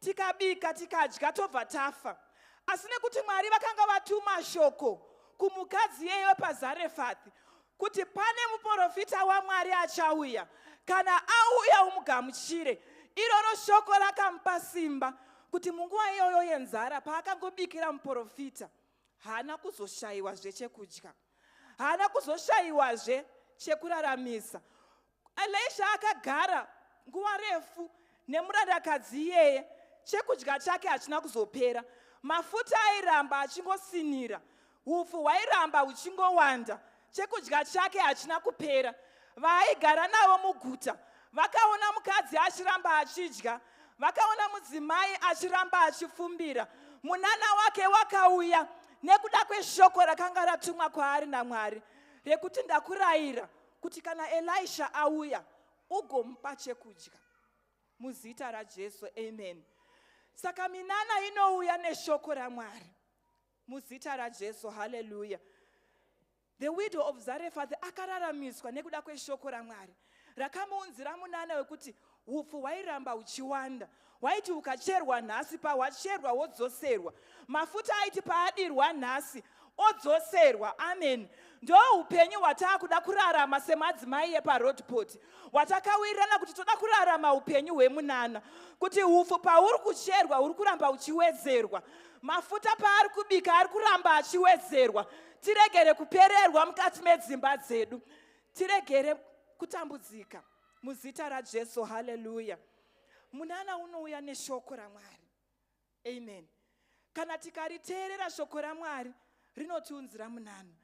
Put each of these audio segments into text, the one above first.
tikabika tikadya tobva tafa asi nekuti mwari vakanga vatuma shoko kumukadzi iyeyo pazarefathi kuti pane muprofita wamwari achauya kana auya umugamuchire iroro shoko rakamupa simba kuti munguva iyoyo yenzara paakangobikira muprofita haana kuzoshayiwa zvechekudya haana kuzoshayiwazve chekuraramisa elisha akagara nguva refu nemurandakadzi iyeye chekudya chake hachina kuzopera mafuta airamba achingosinira upfu hwairamba huchingowanda chekudya chake hachina kupera Vaaigara navo muguta vakaona mukadzi achiramba achidya, vakaona mudzimai achiramba achifumbira. Munana wake wakauya nekuda kweshoko rakanga ratumwa kwaari naMwari rekuti ndakurayira kuti kana Elisha auya ugomupa chekudya muzita raJesu amen saka minana inouya neshoko raMwari muzita raJesu haleluya The widow of Zarephath akararamiswa nekuda kweshoko raMwari rakamuunzira munana wekuti upfu hwairamba huchiwanda hwaiti ukacherwa nhasi pahwacherwa wodzoserwa mafuta aiti paadirwa nhasi odzoserwa amen ndo upenyu hwataakuda kurarama semadzimai eparodpot hwatakawirirana kuti toda kurarama upenyu hwemunana kuti upfu pauri kucherwa uri kuramba uchiwedzerwa mafuta paari kubika ari kuramba achiwedzerwa tiregere kupererwa mukati medzimba dzedu tiregere kutambudzika muzita rajesu haleluya munana unouya neshoko ramwari amen kana tikariteerera shoko ramwari rinotiunzira munana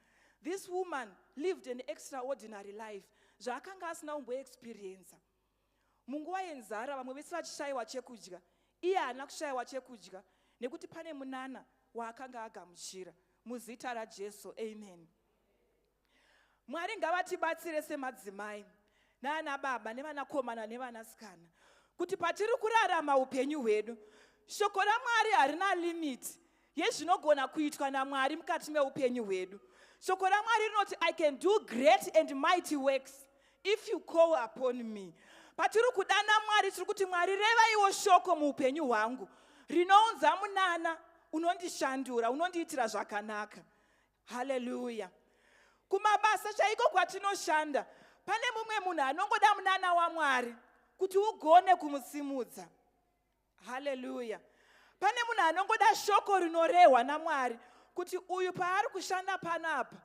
this woman lived an extraordinary life zvaakanga asina kumboexperiensa Munguva yenzara vamwe vese vachishayiwa chekudya, iye haana kushayiwa chekudya nekuti pane munana waakanga agamuchira. Muzita raJesu, amen. Mwari ngavatibatsire semadzimai naana baba nevanakomana nevanasikana kuti patiri kurarama upenyu hwedu shoko ramwari harina limiti yezvinogona kuitwa namwari mukati meupenyu hwedu shoko ramwari rinoti i can do great and mighty works if you call upon me patiri kudana mwari tiri kuti mwari revaiwo shoko muupenyu hwangu rinounza munana unondishandura unondiitira zvakanaka haleluya kumabasa chaiko kwatinoshanda pane mumwe munhu anongoda munana wamwari kuti ugone kumusimudza haleluya pane munhu anongoda shoko rinorehwa namwari kuti uyu paari kushanda pano apa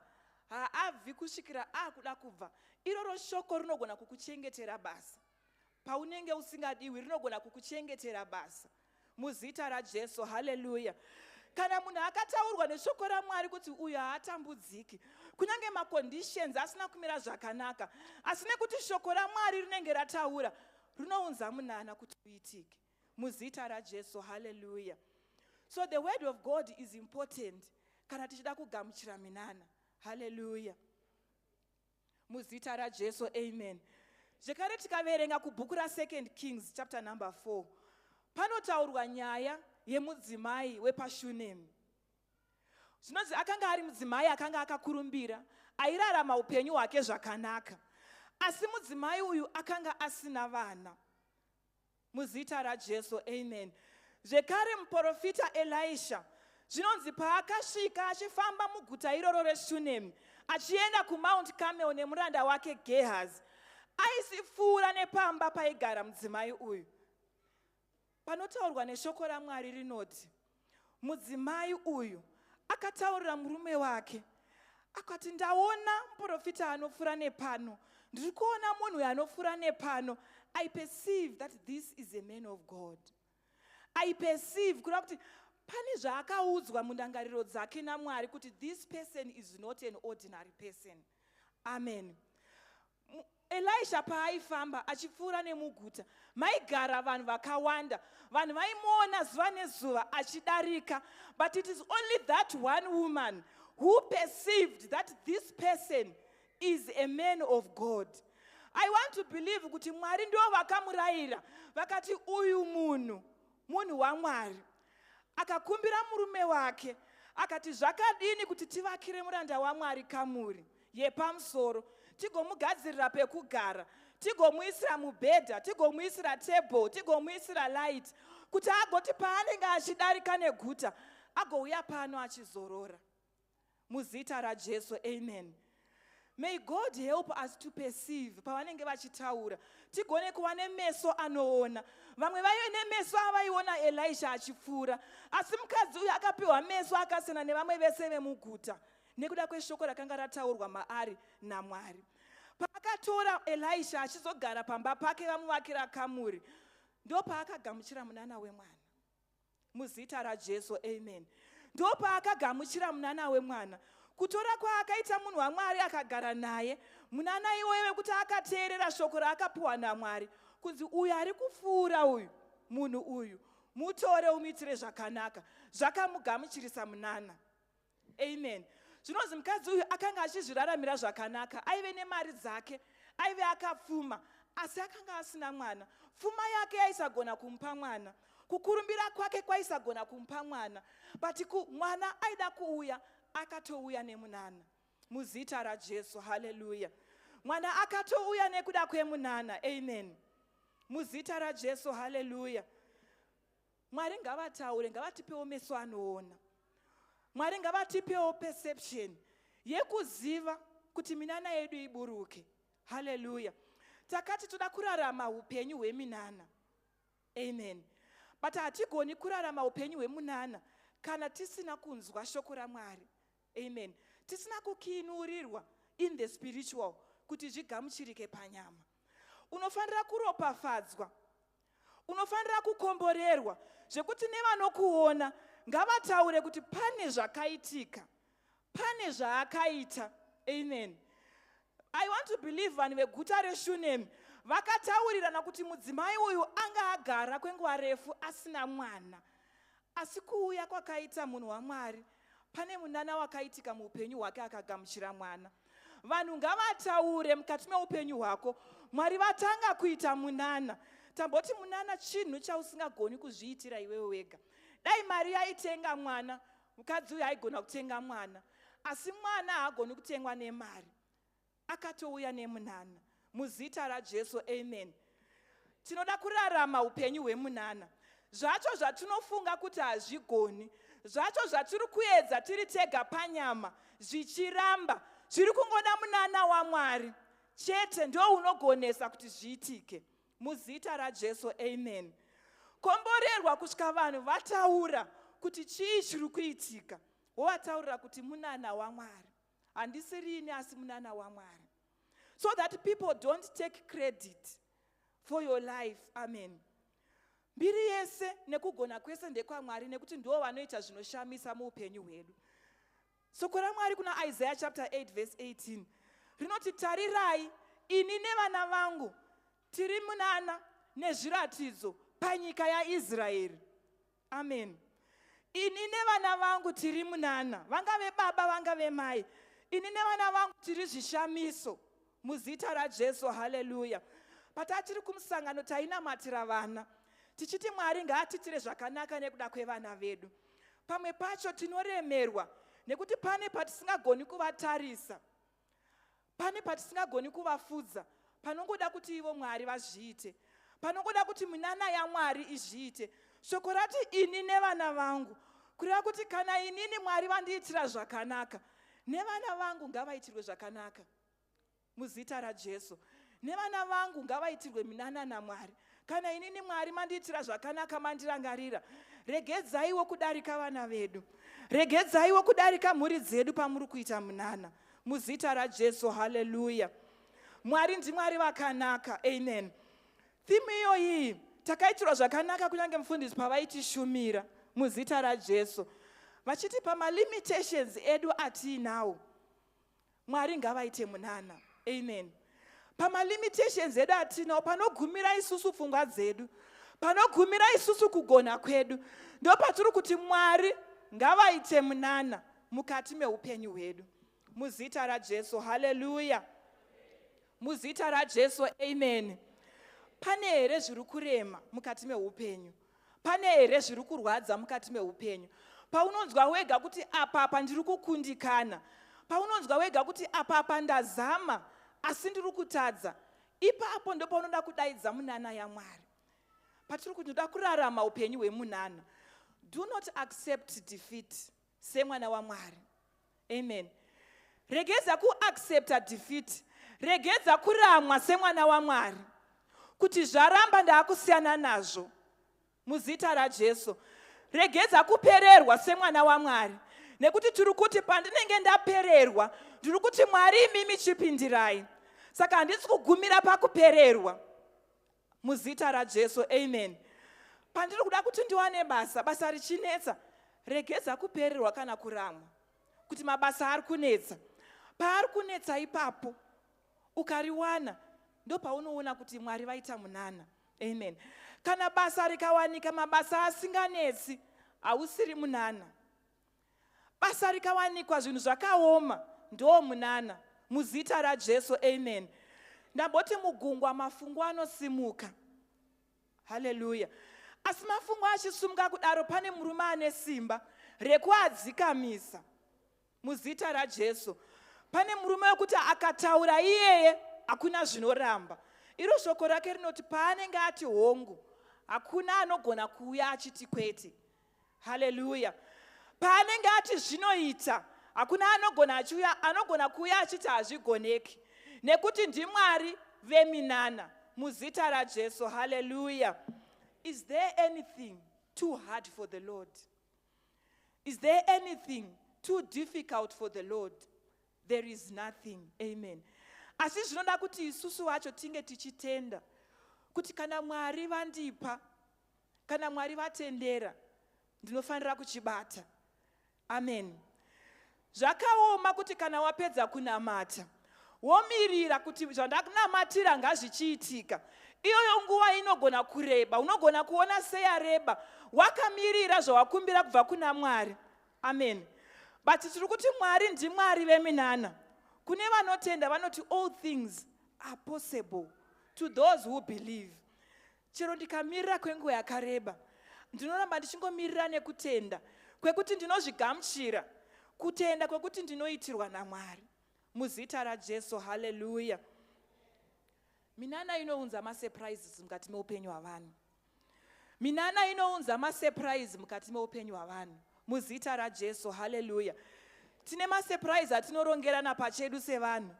haabvi kusvikira akuda kubva iroro shoko rinogona kukuchengetera basa paunenge usingadiwi rinogona kukuchengetera basa muzita rajesu haleluya kana munhu akataurwa neshoko ramwari kuti uyo haatambudziki kunyange maconditions asina kumira zvakanaka asi nekuti shoko ramwari rinenge rataura Runounza munana kuti uitike. Muzita raJesu, hallelujah. So the word of God is important kana tichida kugamuchira minana. Hallelujah. Muzita raJesu, amen. Zvekare tikaverenga kubhuku raSecond Kings chapter number 4 panotaurwa nyaya yemudzimai wepaShunemi. zvinonzi akanga ari mudzimai akanga akakurumbira airarama upenyu hwake zvakanaka asi mudzimai uyu akanga asina vana muzita rajesu amen zvekare muprofita elisha zvinonzi paakasvika achifamba muguta iroro reshunemi achienda kumount camel nemuranda wake gehazi aisipfuura nepamba paigara mudzimai uyu Panotaurwa neshoko raMwari rinoti, Mudzimai uyu akataurira murume wake, akati, Ndaona muporofita anopfuura nepano. Ndiri kuona munhu uyo anopfuura nepano. I perceive that this is a man of God. I perceive kureva kuti pane zvaakaudzwa mundangariro dzake naMwari kuti this person is not an ordinary person. Amen. Elisha paaifamba achipfuura nemuguta maigara vanhu vakawanda vanhu vaimuona zuva nezuva achidarika but it is only that one woman who perceived that this person is a man of god i want to believe kuti mwari ndo vakamurayira vakati uyu munhu Munhu waMwari akakumbira murume wake akati, Zvakadini kuti tivakire muranda waMwari kamuri yepamusoro, tigomugadzirira pekugara, tigomuisira mubhedha, tigomuisira table, tigomuisira light, kuti agoti paanenge achidarika neguta agouya pano achizorora. muzita rajesu amen may god help us to perceive pavanenge vachitaura tigone kuva nemeso anoona vamwe vaive nemeso avaiona elisha achipfuura asi mukadzi uyu akapiwa meso akasiyana nevamwe vese vemuguta nekuda kweshoko rakanga rataurwa maari namwari paakatora elisha achizogara pamba pake vamuvakira kamuri ndopaakagamuchira munana wemwana muzita rajesu amen ndopaakagamuchira munana wemwana kutora kwaakaita munhu wamwari akagara naye munana iwoyo vekuti akateerera shoko raakapiwa namwari kunzi uyu ari kupfuura uyu munhu uyu mutore umiitire zvakanaka zvakamugamuchirisa munana amen zvinonzi mukadzi uyu akanga achizviraramira zvakanaka aive nemari dzake aive akapfuma asi akanga asina mwana pfuma yake yaisagona kumupa mwana kukurumbira kwake kwaisagona kumupa mwana but mwana aida kuuya akatouya nemunana muzita rajesu haleluya mwana akatouya nekuda kwemunana amen muzita rajesu haleluya Mwari ngavataure, ngavatipewo meso anoona. Mwari ngavatipewo perception yekuziva kuti minana yedu iburuke. Hallelujah. Takati toda kurarama upenyu hweminana. Amen. But hatigoni kurarama upenyu hwemunana kana tisina kunzwa shoko raMwari. Amen. Tisina kukinurirwa in the spiritual kuti zvigamuchirike panyama. Unofanira kuropafadzwa unofanira kukomborerwa zvekuti nevanokuona ngavataure kuti pane zvakaitika pane zvaakaita amen i want to believe vanhu veguta reshunemi vakataurirana kuti mudzimai uyu anga agara kwenguva refu asina mwana asi kuuya kwakaita munhu wamwari pane munana wakaitika muupenyu hwake akagamuchira mwana vanhu ngavataure mukati meupenyu hwako mwari vatanga kuita munana tamboti munana chinhu chausingagoni kuzviitira iwewe wega dai mari yaitenga mwana mukadzi uyu aigona kutenga mwana asi mwana haagoni kutengwa nemari akatouya nemunana Muzita raJesu, amen. Tinoda kurarama upenyu hwemunana. Zvacho zvatinofunga kuti hazvigoni, zvacho zvatiri kuedza tiri tega panyama, zvichiramba, zviri kungoda munana waMwari chete ndo unogonesa kuti zviitike. Muzita raJesu, amen. Komborerwa kusvika vanhu vataura kuti chii chiri kuitika, wovataurira kuti munana waMwari. handisiri ini asi munana wamwari so that people don't take credit for your life amen mbiri yese nekugona kwese ndekwamwari nekuti ndiwo vanoita zvinoshamisa muupenyu hwedu soko ramwari kuna isaiah chapter 8 verse 18 rinoti tarirai ini nevana vangu tiri munana nezviratidzo panyika yaisraeri amen ini nevana vangu tiri munana vangave baba vangave mai ini nevana vangu tiri zvishamiso muzita rajesu haleluya patatiri kumusangano tainamatira vana tichiti mwari ngaatitire zvakanaka nekuda kwevana vedu pamwe pacho tinoremerwa nekuti pane patisingagoni kuvatarisa pane patisingagoni kuvafudza panongoda kuti ivo mwari vazviite panongoda kuti minana yamwari izviite shoko rati ini nevana vangu kureva kuti kana inini mwari vandiitira zvakanaka nevana vangu ngavaitirwe zvakanaka muzita rajesu nevana vangu ngavaitirwe minana namwari Kana inini Mwari mandiitira zvakanaka mandirangarira, regedzaiwo kudarika vana vedu, regedzaiwo kudarika mhuri dzedu pamuri kuita munana. Muzita raJesu, haleluya. Mwari ndiMwari vakanaka, amen. Thimu iyoyi takaitirwa zvakanaka kunyange mufundisi pavaitishumira muzita raJesu vachitipa malimitations edu atiinawo mwari ngavaite munana amen pamalimitations edu atinawo panogumira isusu pfungwa dzedu panogumira isusu kugona kwedu ndopatiri kuti mwari ngavaite munana mukati meupenyu hwedu muzita rajesu haleluya muzita rajesu amen pane here zviri kurema mukati meupenyu pane here zviri kurwadza mukati meupenyu paunonzwa wega kuti apapa ndiri kukundikana paunonzwa wega kuti apapa ndazama asi ndiri kutadza ipapo ndopaunoda kudaidza munana yamwari patiri kuti ndoda kurarama upenyu hwemunana do not accept defeat semwana wamwari amen regedza kuaccepta defeat regedza kuramwa semwana wamwari kuti zvaramba ndaakusiyana nazvo muzita rajesu regedza kupererwa semwana wamwari nekuti tiri kuti pandinenge ndapererwa ndiri kuti mwari imimi chipindirai saka handisi kugumira pakupererwa Muzita raJesu, amen. Pandiri kuda kuti ndiwane basa, basa richinetsa, regedza kupererwa kana kuramwa, kuti mabasa ari kunetsa. Paari kunetsa ipapo, ukariwana, ndopaunoona kuti Mwari vaita munana. Amen. Kana basa rikawanika, mabasa asinganetsi, hausiri munana. basa rikawanikwa zvinhu zvakaoma ndoo munana muzita rajesu amen ndamboti mugungwa mafungu anosimuka haleluya asi mafungu achisumuka kudaro pane murume ane simba rekuadzikamisa muzita rajesu pane murume wekuti akataura iyeye hakuna zvinoramba iro shoko rake rinoti paanenge ati hongu hakuna anogona kuuya achiti kwete haleluya paanenge ati zvinoita hakuna anogona achiuya anogona kuuya achiti hazvigoneki nekuti ndimwari veminana muzita rajesu haleluya is there anything too hard for the lord is there anything too difficult for the lord there is nothing amen asi zvinoda kuti isusu vacho tinge tichitenda kuti kana mwari vandipa Kana Mwari vatendera ndinofanira kuchibata. Amen. Zvakaoma kuti kana wapedza kunamata womirira kuti zvandakunamatira ngazvichiitika. Iyoyo nguva inogona kureba, unogona kuona seyareba wakamirira zvawakumbira kubva kuna Mwari. Amen. But tiri kuti Mwari ndiMwari veminana. Kune vanotenda vanoti all things are possible to those who believe. Chero ndikamirira kwenguva yakareba, ndinoramba ndichingomirira nekutenda kwekuti ndinozvigamuchira, kutenda kwekuti ndinoitirwa naMwari. Muzita raJesu, haleluya. Minana inounza masurprises mukati meupenyu hwavanhu. Minana inounza masurprise mukati meupenyu hwavanhu. Muzita raJesu, hallelujah. Tine masurprise atinorongerana pachedu sevanhu.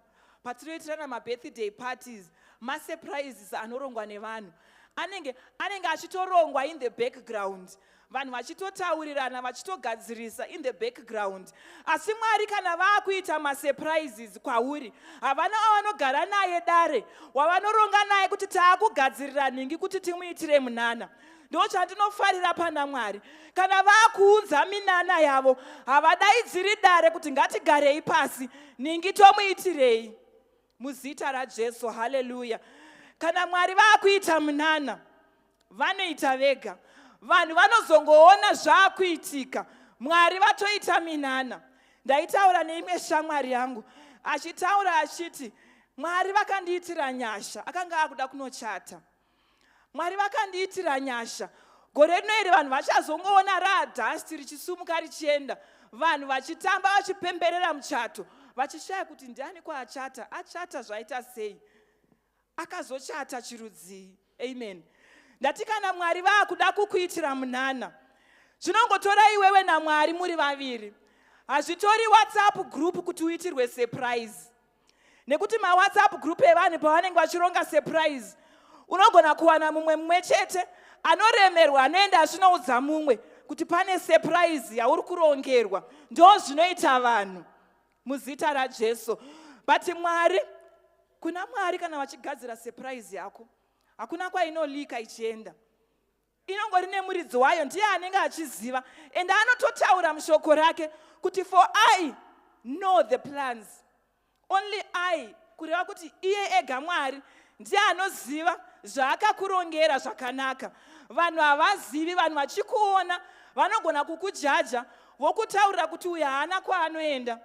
Patinoitirana mabirthday parties, masurprises anorongwa nevanhu. Anenge, anenge achitorongwa in the background. Vanhu vachitotaurirana, vachitogadzirisa in the background. Asi Mwari kana vakuita masurprises kwauri, havana avanogara naye dare, wavanoronga naye kuti taakugadzirira nhingi kuti timuitire munana. ndo chandinofarira pana mwari kana vakuunza minana yavo havadaidziri dare kuti ngatigarei pasi ningi tomuitirei muzita rajesu haleluya kana mwari vakuita munana vanoita vega vanhu vanozongoona zvakuitika mwari vatoita minana ndaitaura neimwe shamwari yangu achitaura achiti mwari vakandiitira nyasha akanga akuda kunochata mwari vakandiitira nyasha gore rino iri vanhu vachazongoona raadhasti richisumuka richienda vanhu vachitamba vachipemberera muchato vachishaya kuti ndiani kwaachata achata zvaita sei akazochata chirudzii amen ndati kana mwari vaakuda kukuitira munana zvinongotora iwewe namwari muri vaviri hazvitori whatsapp group kuti uitirwe surprise nekuti mawhatsapp group evanhu pavanenge vachironga surprise unogona kuwana mumwe mumwe chete anoremerwa anoenda achinoudza mumwe kuti pane surprise yauri kurongerwa ndo zvinoita vanhu muzita rajesu but mwari kuna mwari kana vachigadzira surprise yako hakuna kwainolika ichienda inongori nemuridzi wayo ndiye anenge achiziva and anototaura mushoko rake kuti for i know the plans only i kureva kuti iye ega mwari ndiye anoziva zvaakakurongera zvakanaka vanhu havazivi vanhu vachikuona vanogona kukujaja vokutaurira kuti uyu haana kwaanoenda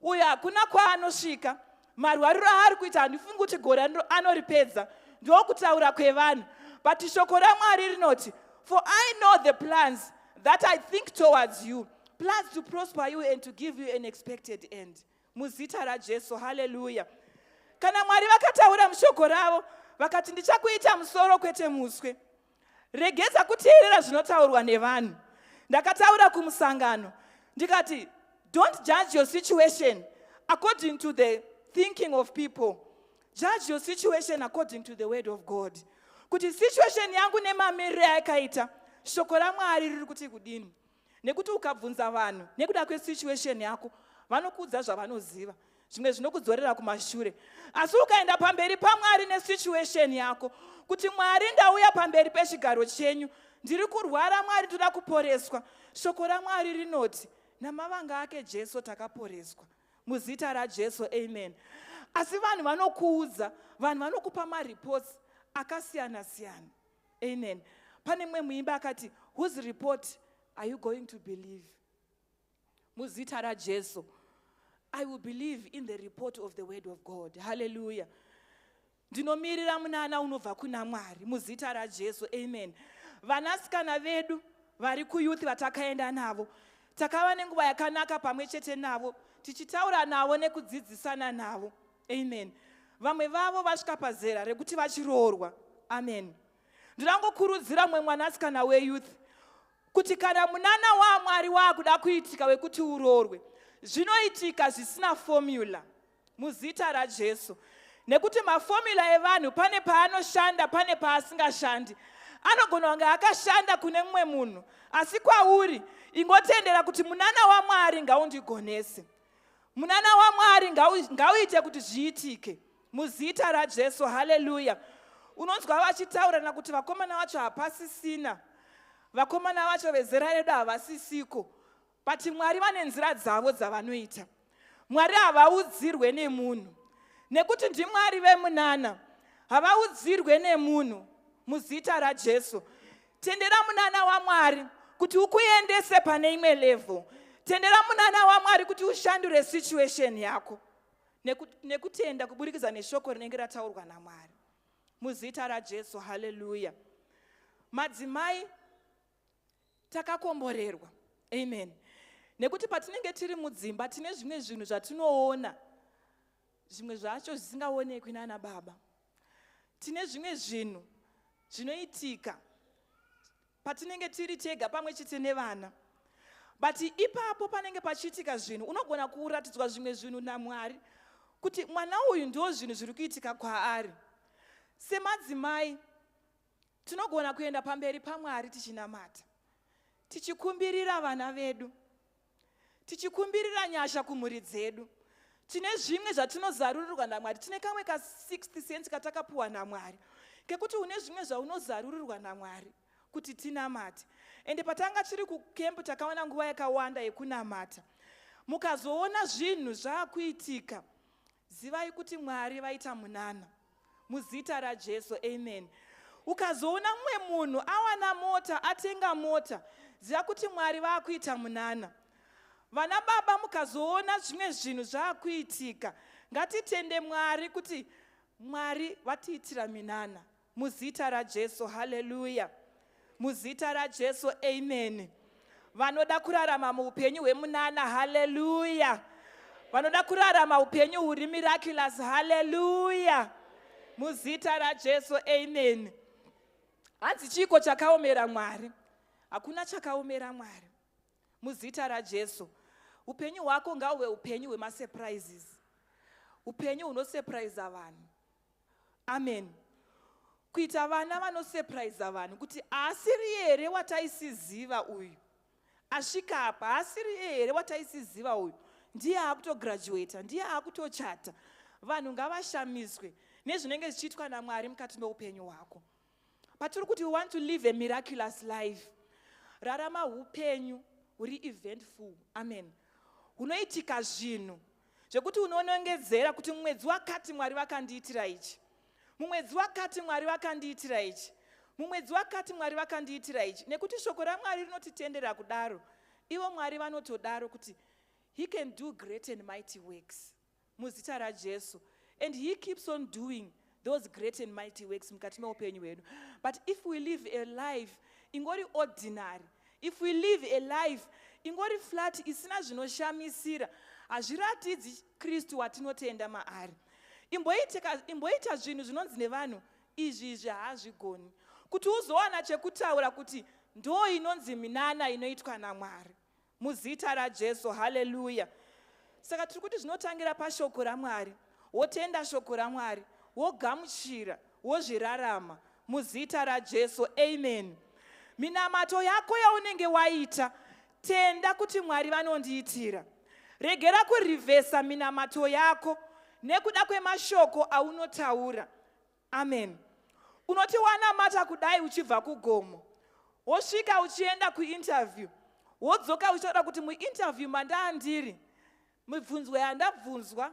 uyo hakuna kwaanosvika marwariro aari kuita handifungi kuti gore anoripedza ndokutaura kwevanhu but shoko ramwari rinoti for i know the plans that i think towards you plans to prosper you and to give you an expected end muzita rajesu haleluya kana mwari vakataura mushoko ravo vakati ndichakuita musoro kwete muswe regedza kuteerera zvinotaurwa nevanhu ndakataura kumusangano ndikati don't judge your situation according to the thinking of people judge your situation according to the word of god kuti situation yangu nemamiriro ayakaita shoko ramwari riri kuti kudini nekuti ukabvunza vanhu nekuda kwesituation yako vanokuudza zvavanoziva zvimwe zvinokudzorera kumashure asi ukaenda pamberi pamwari nesituation yako kuti mwari ndauya pamberi pechigaro chenyu ndiri kurwara mwari toda kuporeswa shoko ramwari rinoti namavanga ake jesu takaporeswa muzita rajesu amen asi vanhu vanokuudza vanhu vanokupa mareports akasiyana siyana Amen. Pane mwe muimbi akati whose report are you going to believe? Muzita raJesu. I will believe in the report of the word of God. Hallelujah. Ndinomirira munana unobva kuna Mwari muzita raJesu. Amen. Vanasikana vedu vari kuyouth vatakaenda navo takava nenguva yakanaka pamwe chete navo tichitaura navo nekudzidzisana navo amen vamwe vavo vasvika pazera rekuti vachiroorwa amen ndinangokurudzira mumwe mwanasikana weyouth kuti kana munana wamwari waakuda kuitika wekuti uroorwe zvinoitika zvisina fomula muzita rajesu nekuti mafomula evanhu pane paanoshanda pane paasingashandi anogona kunge akashanda kune mumwe munhu asi kwauri ingotendera kuti munana wamwari ngaundigonese munana wamwari ngauite kuti zviitike muzita rajesu haleluya unonzwa vachitaurirana kuti vakomana vacho hapasisina vakomana vacho vezera redu havasisiko but mwari vane nzira dzavo dzavanoita mwari havaudzirwe nemunhu nekuti ndimwari vemunana havaudzirwe nemunhu muzita rajesu tendera munana wamwari kuti ukuendese pane imwe level tendera munana wamwari kuti ushandure situation yako nekutenda kuburikidza neshoko rinenge rataurwa namwari muzita rajesu haleluya madzimai takakomborerwa amen nekuti patinenge tiri mudzimba tine zvimwe zvinhu zvatinoona zvimwe zvacho zvisingaonekwi nana baba tine zvimwe zvinhu zvinoitika patinenge tiri tega pamwe chete nevana but ipapo panenge pachiitika zvinhu unogona kuratidzwa zvimwe zvinhu namwari kuti mwana uyu ndo zvinhu zviri kuitika kwaari semadzimai tinogona kuenda pamberi pamwari tichinamata tichikumbirira vana vedu tichikumbirira nyasha kumhuri dzedu tine zvimwe zvatinozarurirwa namwari tine kamwe ka 6 cent katakapuwa namwari kekuti une zvimwe zvaunozarurirwa namwari kuti tinamate ende patanga tiri kukempu takawana nguva yakawanda yekunamata mukazoona zvinhu zvaakuitika Zivai kuti Mwari vaita munana muzita raJesu amen. Ukazoona mumwe munhu awana mota atenga mota ziva kuti Mwari vakuita munana. Vana baba mukazoona zvimwe zvinhu zvakuitika ngatitende Mwari kuti Mwari vatiitira minana. Muzita raJesu, hallelujah. Muzita raJesu, amen. Vanoda kurarama muupenyu hwemunana, hallelujah. Vanoda kurarama upenyu huri miraculous, hallelujah. Muzita raJesu, amen. Hanzi chiiko chakaomera Mwari? Hakuna chakaomera Mwari. Muzita raJesu. Upenyu hwako ngauve upenyu hwemasurprises. Upenyu hunosurprise vanhu. amen kuita vana vanosepraiza vanhu kuti haasiri here wataisiziva uyu asvika apa haasiri here wataisiziva uyu ndiye akutograduata ndiye akutochata vanhu ngavashamiswe nezvinenge zvichiitwa namwari mukati meupenyu hwako patiri kuti we want to live a miraculous life rarama upenyu huri eventful amen hunoitika zvinhu zvekuti unonongedzera kuti mumwedzi wakati mwari vakandiitira ichi mumwedzi wakati mwari vakandiitira ichi mumwedzi wakati mwari vakandiitira ichi nekuti shoko ramwari rinotitendera kudaro ivo mwari vanotodaro kuti he can do great and mighty works Muzita raJesu. And he keeps on doing those great and mighty works mukati meupenyu hwedu. But if we live a life ingori ordinary, if we live a life ingori flat isina zvinoshamisira, hazviratidzi Kristu watinotenda maari. Imboita zvinhu zvinonzi nevanhu izvi izvi haazvigoni. Kuti uzowana chekutaura kuti ndo inonzi minana inoitwa naMwari. Muzita raJesu, haleluya. Saka tiri kuti zvinotangira pashoko raMwari, wotenda shoko raMwari, wogamuchira, wozvirarama. Muzita raJesu, amen. Minamato yako yaunenge waita, tenda kuti Mwari vanondiitira. Regera kurivhesa minamato yako nekuda kwemashoko aunotaura. Amen. Unoti wanamata kudai uchibva kugomo. Wosvika uchienda kuinterview. Wodzoka uchitaura kuti muinterview mandaa ndiri. Mibvunzwa yandabvunzwa.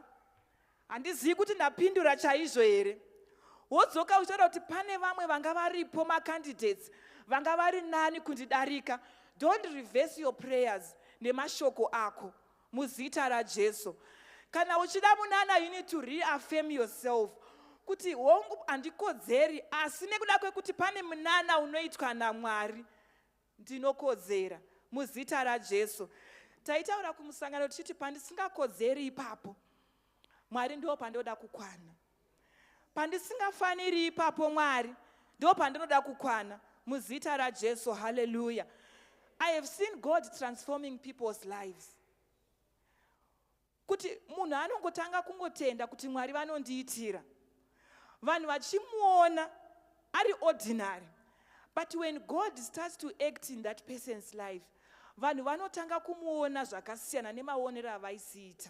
Handizivi kuti ndapindura chaizvo here. Wodzoka uchitaura kuti pane vamwe vanga varipo macandidates vanga vari nani kundidarika. Don't reverse your prayers nemashoko ako. Muzita raJesu. Kana uchida munana you need to reaffirm yourself kuti hongu handikodzeri asi nekuda kwekuti pane munana unoitwa naMwari ndinokodzera muzita raJesu. Taitaura kumusangano tichiti pandisingakodzeri ipapo Mwari ndo pandoda kukwana. Pandisingafaniri ipapo Mwari ndipo pandinoda kukwana muzita raJesu hallelujah I have seen God transforming people's lives kuti munhu anongotanga kungotenda kuti Mwari vanondiitira vanhu vachimuona ari ordinary but when God starts to act in that person's life vanhu vanotanga kumuona zvakasiyana nemaonero avaisiita